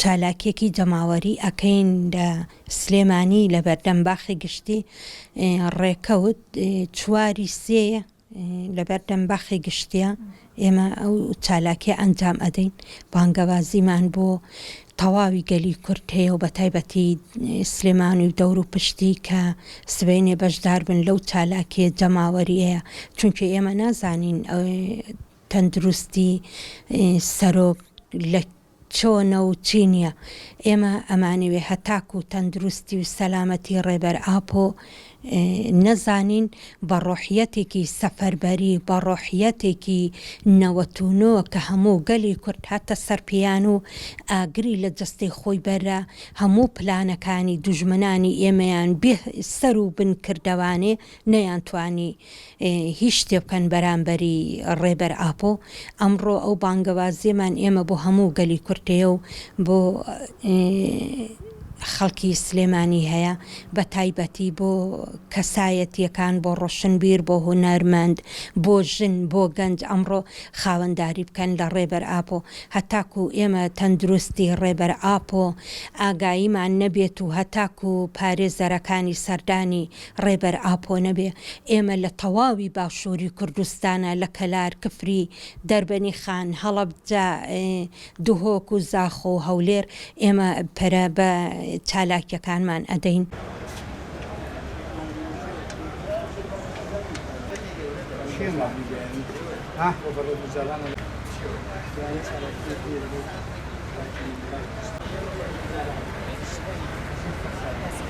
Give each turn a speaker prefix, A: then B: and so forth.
A: چالاکیەکی جەماوەری ئەکەین لە سلێمانی لەبەردەم باخی گشتی ڕێکەوت چواری سێ لەبەردەم باخی گشتیە ئێمە ئەو چالاکیە ئەنجام ئەدەین بانگەوازیمان بۆ تەواوی گەلی کورد هەیە و بەتایبەتی سلێمانی و دەور و پشتی کە سبەینێ بەشدار بن لەو چالاکیە جەماوەریەیە چونکە ئێمە نازانین تەندروستی سەرۆک لە چۆنە و چی نیە ئێمە ئەمانەوێ هەتاکو تەندروستی و سەلامەتی ڕێبەر ئاپۆ نەزانین بە ڕۆحیەتێکی سەفەربەری بە ڕۆحیەتێکی نەوەت و نۆ کە هەموو گەلی کورد هاتە سەر پێیان و ئاگری لە جەستەی خۆی بەررا هەموو پلانەکانی دوژمنانی ئێمەیان بێ سەرو بن کردەوانێ نەیانتوانی هیچ شتێ بکەن بەرامبەری ڕێبەر ئاپۆ، ئەمڕۆ ئەو بانگەوازیەمان ئێمە بۆ هەموو گەلی کورد هەیە و بۆ خەڵکی سلێمانی هەیە، بە تایبەتی بۆ کەسایەتیەکان، بۆ ڕۆشنبیر، بۆ هونەرمەند، بۆ ژن، بۆ گەنج ئەمڕۆ خاوەنداری بکەن لە ڕێبەر ئاپۆ، هەتاکو ئێمە تەندروستی ڕێبەر ئاپۆ ئاگاییمان نەبێت و هەتاکو پارێزەرەکانی سەردانی ڕێبەر ئاپۆ نەبێ ئێمە لە تەواوی باشووری کوردستانا لە کەلار، کفری، دەربەنی خان، هەڵەبجە، دهۆک و زاخۆ و هەولێر ئێمە پەرە بە چالاکیەکانمان ئەدەین.